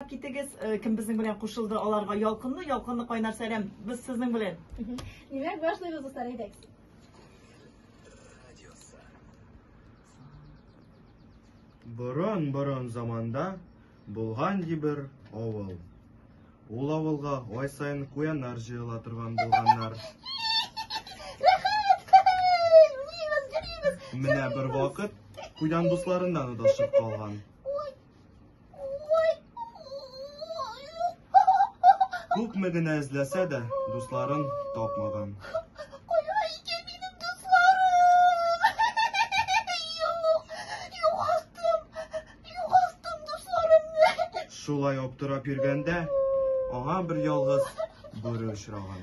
Китегез, э, кем безнең белән кушылды аларга ялкынлы, ялкынлы кайнар сәлам. Без сезнең белән. Димәк, башлыйбыз дуслар, әйдәк. Борын-борын заманда булган дибер авыл. Ул авылга ай сайын куяннар җыела торган булганнар. Менә бер вакыт куян дусларыннан удашып калган. Күпме генә эзләсә дә, дусларын тапмаган. Шулай аптырап йөргәндә, аңа бер ялгыз бүре очраган.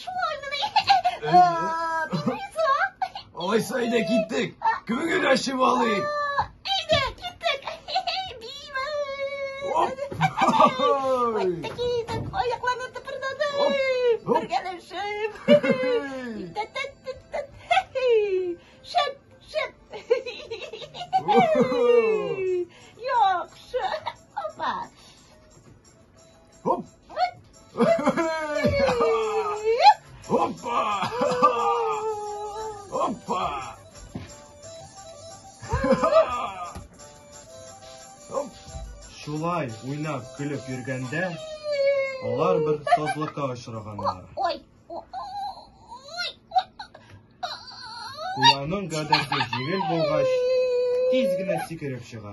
Шул айныны. Алайса әйдә киттек. Күңел генә ачып алыйк. Әйдә, киттек. Оп! Опа! Опа! Оп! Шулай уйнап көлеп йөргәндә алар бер сазлыкка очраганнар. Ой! Куяның гадәте җиңел булгач, тиз генә сикереп чыга.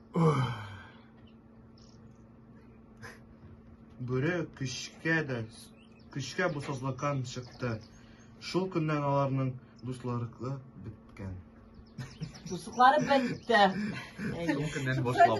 Бүре көчкә дә, көчкә бу сазлакан чыкты. Шул көннән аларның дусларыкы беткән. Дуслары бетте. Шул көннән башлап.